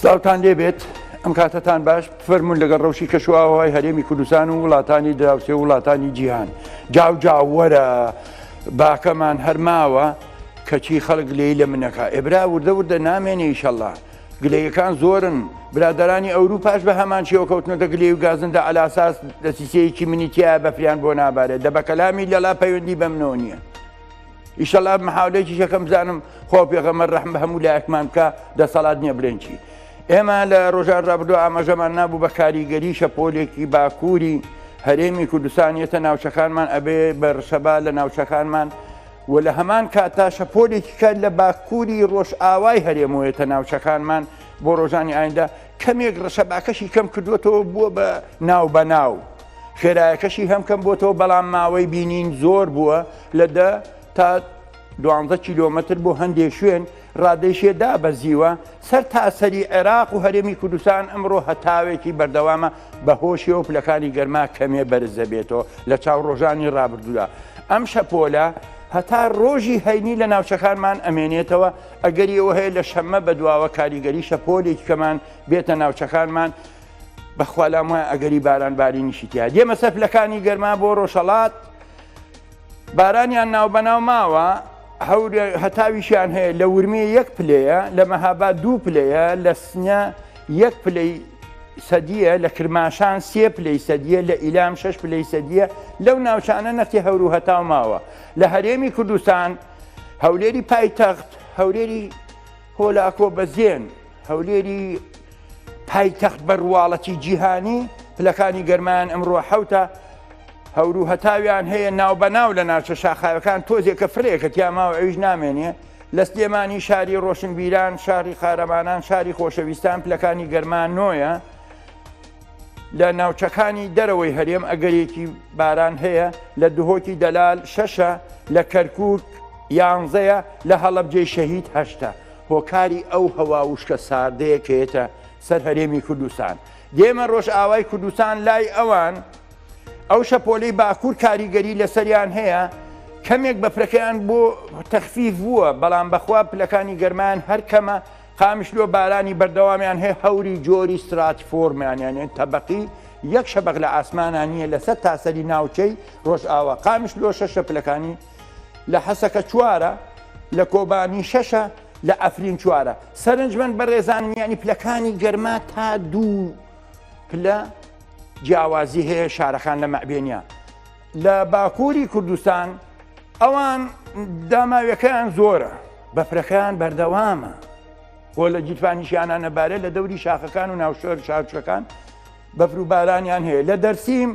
سلاوتان لێبێت ئەم کاتەتان باش فەرمونون لەگەڵ ڕەوشی کەشوواوای هەرێمی کوردستان و وڵاتانی دراوسێ وڵاتانی جیهان جاو جاوەرە باکەمان هەرماوە کەچی خەڵک لێی لە منەکە ئێبرا وردە وردە نامێنێ ئیشەله گلەیەکان زۆرن برادرانی ئەوروپاش بە هەمان شێوە کەوتنەتە گلێ و گازندە ئەلاساس دەسیسەیەکی منیتیە بەفریان بۆ نابارێت دەبەکەلامی لەلا پەیوەندی بەمنەوە نییە. ئیشەڵا محاولەیەکیش یەکەم بزانم خۆ پێغەمە ڕحم بە هەموو لایەکمان بکە دەسەڵات نییە بلێن چی ئێمە لە ڕۆژان ڕابدو ئاماژەمان نابوو بە کاریگەری شەپۆلێکی باکووری هەرێمی کوردستان یەتە ناوچەکانمان ئەبێ بە ڕشەبا لە ناوچەکانمان و لە هەمان کاتا شەپۆلێکی کار لە باکووری ڕۆژ ئاوای هەرێمەوەیەتە ناوچەکانمان بۆ ڕۆژانی ئایندا کەمێک ڕشەباکەشی کەم کردوەتەوە بووە بە ناو بە ناو. خێرایەکەشی هەم کەم بۆتەوە بەڵام ماوەی بینین زۆر بووە لە دە تا دوانزە کیلۆمەتر بۆ هەندێک شوێن ڕادێشێ دابەزیوە سەر تاسەری عێراق و هەرێمی کوردستان ئەمڕۆ هەتاوێکی بەردەوامە بە هۆشیەوە پلەکانی گەرما کەمێ بەرز دەبێتەوە لە چاو ڕۆژانی ڕابردوودا ئەم شەپۆلە هەتا ڕۆژی هەینی لە ناوچەکانمان ئەمێنێتەوە ئەگەریەوە هەیە لە شەممە بەدواوە کاریگەری شەپۆلێک کەمان بێتە ناوچەکانمان بەخوا لام وایە ئەگەری باران بارینیشی تیا دێمە سەر پلەکانی گەرما بۆ ڕۆژەڵات بارانیان ناو بەناو ماوە هەورە هەتاویشیان هەیە لە ورمێ یەک پلەیە لە مەهابا دوو پلەیە لە سنە یەک پلەی سەدیە لە کرماشان سێ پلەی سەدیە لە ئیلام شش پلەی سەدیە لەو ناوچانە نەختی هەورو هەتاو ماوە لە هەرێمی کوردستان هەولێری پایتەخت هەولێری هۆلاکۆ بەزێن، هەولێری پایتەخت بە ڕواڵەتی جیهانی، پلەکانی گەرمایان ئەمڕۆ حەوتە، هەور و هەتاویان هەیە ناوبەناو لە ناوچە شاخاوەکان تۆزێکە فرەیەکە تیا ماوە ئەویش نامێنێ، لە سلێمانی شاری ڕۆشنبیران، شاری قارەمانان، شاری خۆشەویستان پلەکانی گەرما نۆیە، لە ناوچەکانی دەرەوەی هەرێم ئەگەرێکی باران هەیە لە دهۆکی دەلال شەشە لە کەرکک یانزەیە لە هەڵەبجێ شەهید هەشتا هۆکاری ئەو هەوا وشکە ساردەیەکێتە سەر هەرێمی کوردستان دێمە ڕۆژ ئاوای کوردستان لای ئەوان ئەو شەپۆلی باکوور کاریگەری لەسەریان هەیە کەمێک بەفرەکەیان بۆ تەخفیف بووە بەڵام بەخوا پلەکانی گەرمان هەر کەمە قامیشلۆ بارانی بەردەوامیان هەیە هەوری جۆری ستراتیفۆرمیان یانێ تەبەقی یەک شەبەق لە ئاسمانا نییە لەسەر تاسەری ناوچەی ڕۆژئاوا قامیشلۆ شەشە پلەکانی لە حەسەکە چوارە لە کۆبانی شەشە لە ئەفرین چوارە سەرنجمەند بە ڕێزان میانی پلەکانی گەرما تا دوو پلە جیاوازی هەیە شارەکان لە مەعبێنە لە باکووری کوردستان ئەوان داماویەکەیان زۆرە بەفرەکەیان بەردەوامە بۆ لە گیرفانیشیانانەبارە لە دەوری شاخەکان و ناوشۆر شارچەکان بەفر و بارانیان هەیە لە دەرسیم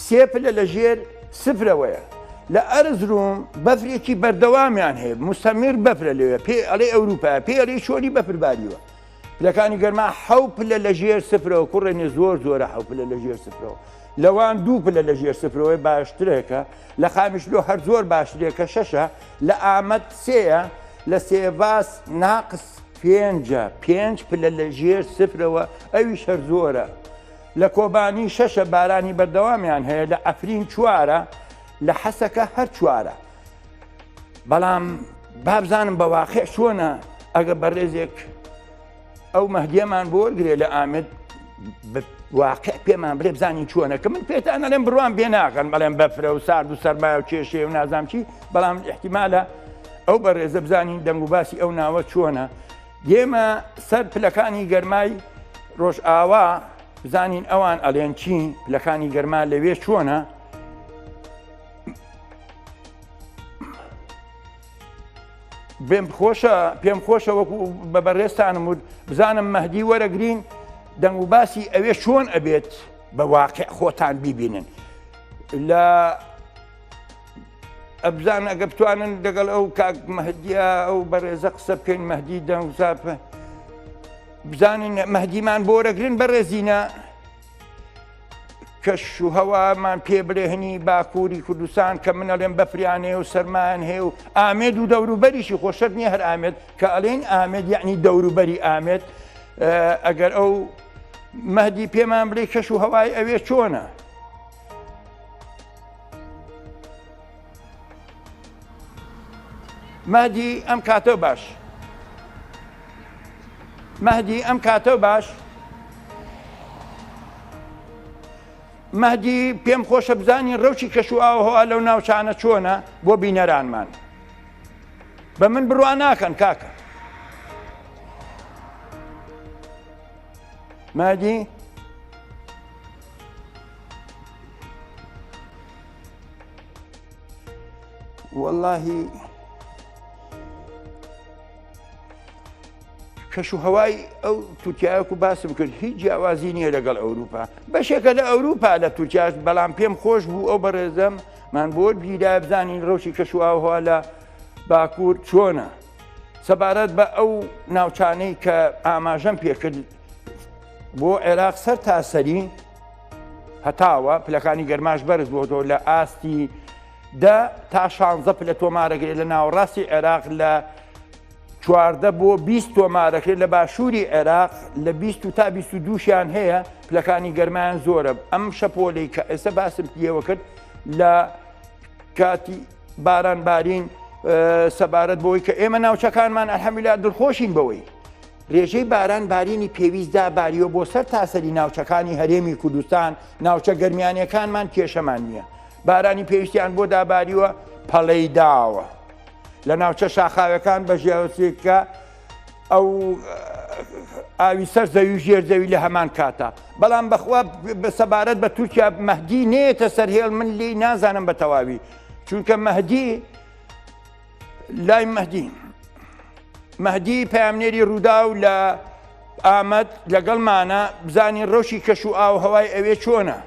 سێ پلە لە ژێر سفرەوەیە لە ئەرزروم بەفرێکی بەردەوامیان هەیە مستەمیر بەفرە لەوێ پێ ئەڵێ ئەوروپا پێ ئەڵی شۆری بەفرباریوە پلەکانی گەرما حەو پلە لە ژێر سفرەوە کوڕێنێ زۆر زۆرە حەو پلە لە ژێر سفرەوە لەوان دوو پلە لە ژێر سفرەوەی باشترێکە لە خامیشلۆ هەر زۆر باشترێکە شەشە لە ئامەد سێە لە سێڤاس ناقس پێنجە پێنج پلە لە ژێر سفرەوە ئەوی شەر زۆرە لە کۆبانی شەشە بارانی بەردەوامیان هەیە لە ئەفرین چوارە لە حەسەکە هەر چوارە بەڵام بابزانم بە واقع چۆنە ئەگە بەڕێزێک ئەو مەهدیەمان بۆ گرێ لە ئامد واقع پێمان بڵێ بزانین چۆنە کە من پێتان نەڵێم بڕوان بێ ناکەن بەڵێم بەفرە و سارد و سەرمایە و کێشێ و نازام چی بەڵام احتیمالە ئەو بە ڕێزە بزانین دەنگ و باسی ئەو ناوە چۆنە دێمە سەر پلەکانی گەرمای ڕۆژ ئاوا بزانین ئەوان ئەلێن چین پلەکانی گەرما لەوێ چۆنە بێم خۆشە پێم خۆشە وەکو بە بەڕێستانم وت بزانم مەهدی وەرەگرین دەنگ و باسی ئەوێ چۆن ئەبێت بە واقع خۆتان بیبینن لە ئەبزان ئەگە بتوانن دەگەڵ ئەو کاک مەهدیا ئەو بەڕێزە قسە بکەین مەهدی دەنگ زاپە بزانین مەهدیمان بۆرەگرن بەڕێزینە کەش و هەوامان پێ برێهنی باکووری کوردستان کە من ئەڵێن بەفریانەیە و سەرمان هەیە و ئامێد و دەوروبەریشی خۆشت نییە هەر ئامێت کە ئەلێن ئامێت یعنی دەوروبەری ئامێت ئەگەر ئەو مەدی پێمان بڵێ کەش و هەوای ئەوێ چۆنە مەهدی ئەم کاتەو باش مەهدی ئەم کاتەو باش مەهدی پێم خۆشە بزانین ڕەوشی کەش و ئاوهوا لەو ناوچانە چۆنە بۆ بینەرانمان بە من بڕوا ناکەن کاکە مادی واللهی کەش و هەوای ئەو تورکایەک و باسی بکرد هیچ جیاوازی نییە لەگەڵ ئەوروپا بەشێکە لە ئەوروپا لە تورکیا بەڵام پێم خۆش بوو ئەو بەڕێزەم من بۆ گیرا بزانین ڕۆژی کەش و ئاوها لە باکوور چۆنە سەبارەت بە ئەو ناوچانەی کە ئاماژەم پێکرد بۆ عێراق سەر تاسەری هەتاوە پلەکانی گەرماش بەرز بۆتەوە لە ئاستی دە تا شانزە پلە تۆمارەگرێت لە ناوەڕاستی عێراق لە چواردە بۆ 20 تۆمارەکرێت لە باشووری عێراق لە 20 تا 22شیان هەیە پلەکانی گەرمایان زۆرە ئەم شەپۆلی کە ئێستا باسم پێوە کرد لە کاتی باران بارین سەبارەت بۆی کە ئێمە ناوچەکانمان ئەحمیلا دڵخۆشین بەوەی رێژەی باران بارینی پێویست دا باریوە بۆ سەر تاسەری ناوچەکانی هەرێمی کوردستان، ناوچە گەرمیانیەکانمان کێشەمان نیە بارانی پێویستیان بۆ دا باریوە پەڵەی داوە لە ناوچە شاخاوەکان بە ژێوسیکە ئەو ئاوی سەر زەوی ژێر زەوی لە هەمان کاتە بەڵام بەخوا سەبارەت بە تورکیا مەهدی نێتە سەر هێڵ من لی نازانم بە تەواوی چونکە مەهدی لای مەدی مەدی پامنێری ڕووداو لە ئامەد لەگەڵمانە بزانین ڕەوشی کەش و ئاو هەوای ئەوێ چۆنە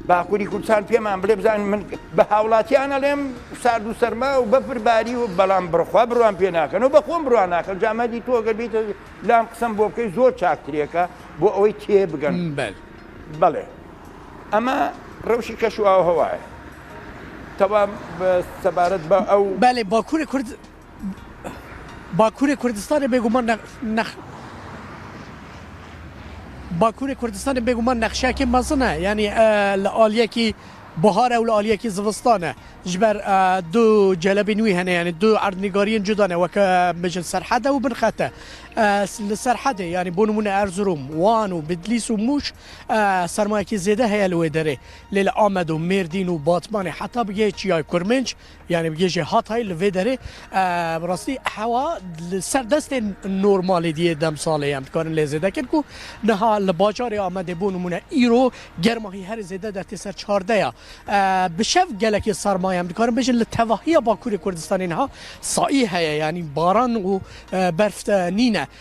باکووری کوردستان پێمان بڵێ بزان من بە هاوڵاتیانە لێم سارد و سەرما و بەفرباری و بەڵام بڕخوا بڕوان پێ ناکەن و بەخۆم بڕوان ناکەن جامەدی تۆ گەبیتە لام قسم بۆ بکەی زۆر چاکترێکە بۆ ئەوەی تێ بگەن بەل بەڵێ. ئەمە رەوشی کەش و ئاووهەوایە کەوا سەبارەت بە ئەو. بەلی باکوری کورد باکوری کوردستان بێگومان نە نەخ باکوری کوردستان بێگومان نەخشەکی مەزنە یانی لە ئالیەکی بەهارە و لە ئالیەکی زڤستانە ژبەر دوو جەلەبی نوی هەنە یانی دوو ئەردنیگاریین جودانە وەکە مژن سەرحەدە و بنخەتە سەرحەدێ یانی بۆ نمونە ئەرزروم وان و بدلیس و موش سەرمایەکی زێدە هەیە لەوێ دەرێ لێ لە ئامەد و مێردین و باتمانێ حتا بگێ چیای کورمنج یعنی بگێژێ هاتای لەێ دەرێ بڕاستی حەوا سەر دەستێن نۆرمالی دیە دەم ساڵێ ئەم بکارن لێ زێدە کرد و نەها لە باجارێ ئامەدێ بۆ نمونە ئیرۆ گەرمماهی هەر زێدە دەتێ سەر چاردەیە بشەف گەلەکی سەرمایە ئەم بکارن بژن لە تەواهە باکووری کوردستانینها سایی هەیە ینی باران و بەرفتە نینە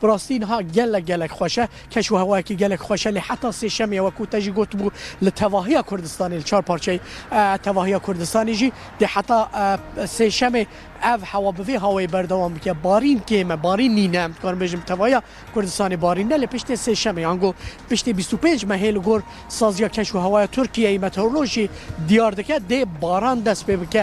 بڕاستی نها گەلەک گەلەک خۆشە کەش و هەوایەکی گەلەک خۆشە لێ حەتا سێشەمێ وەکوو تەژی گۆتبوو لە تەڤاهیا کوردستانی لە چوار پارچەی تەڤاهیا کوردستانیژی دێ حەتا سێشەمێ ئەڤ هەوا بڤێ هاوەی بەردەوام بکە بارین کێمە بارین نینە کار بێژم تەڤاهیا کوردستانی بارین نە لە پشتێ سێشەمێ ئەنگۆ پشتێ بیست و پێنج مەهێ لە گۆر سازیا کەش و هەوایە تورکیەی مەتەورلۆژی دیار دەکە دێ باران دەست پێ بکە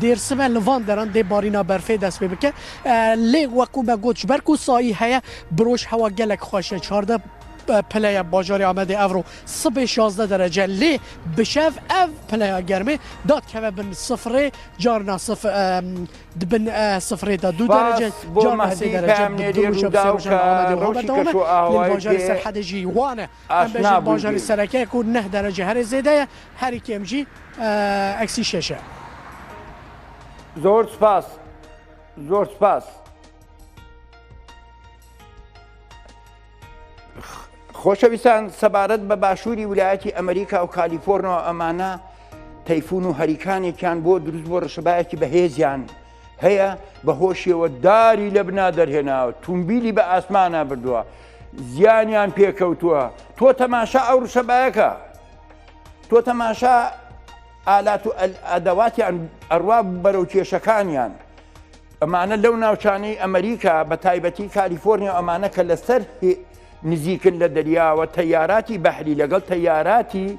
دێرسمە لە ڤان دەران دێ بارینا بەرفێ دەس پێ بکە لێ وەکوو بە گۆچ بەرک و سایی هەیە برۆژ هەوا گەلێک خۆشە چواردە پلەیە باژاری ئامەدێ ئەڤڕۆ سبێ شازدە دەرەجە لێ بشەف ئەڤ پلەیە گەرمێ داد کەوە بن سفرێ جار ناسف دبن سفرێ دا دوو دەرەجە جار ناسی دەرەجە ڕۆژی کەش و ئاوای سەرحەدەژی وانە ئاشنا بووین. زۆر سوپاس زۆر سوپاس. خۆشەویستان سەبارەت بە باشووری ولایەتی ئەمریکا و کالیفۆرنەوە ئەمانە تەیفون و هەریکانێکیان بۆ دروست بۆ ڕشبایەکی بەهێزیان هەیە بە هۆشیەوە داری لە بنا دەرهێناوە تومبیلی بە ئاسمانە بردووە زیانیان پێکەوتووە تۆ تەماشا ئەو ڕشە بایەکە تۆ تەماشا ئالات و ئەدەواتیان ئەڕوا بەرەو کێشەکانیان ئەمانە لەو ناوچانەی ئەمریکا بە تایبەتی کالیفۆرنیا ئەمانە کە لەسەر نزیکن لە دەریاوە تەیاراتی بەحری لەگەڵ تەیاراتی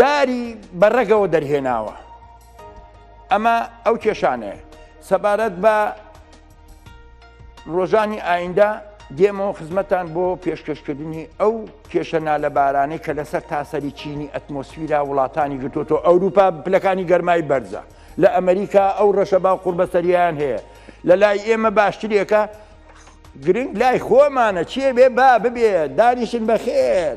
داری بە ڕەگەوە دەرهێناوە ئەمە ئەو کێشانەیە سەبارەت بە ڕۆژانی ئایندا دێمەوە خزمەتان بۆ پێشکەشکردنی ئەو کێشە نالەبارانەی کە لەسەر تاسەری چینی ئەتمۆسفیرا وڵاتانی گرتوۆتۆ ئەوروپا پلەکانی گەرمای بەرزە لە ئەمریکا ئەو ڕەشە با قوربەسەریان هەیە لە لای ئێمە باشترێکە گرنگ لای خۆمانە چێ بێ با ببێ دانیشن بەخێر.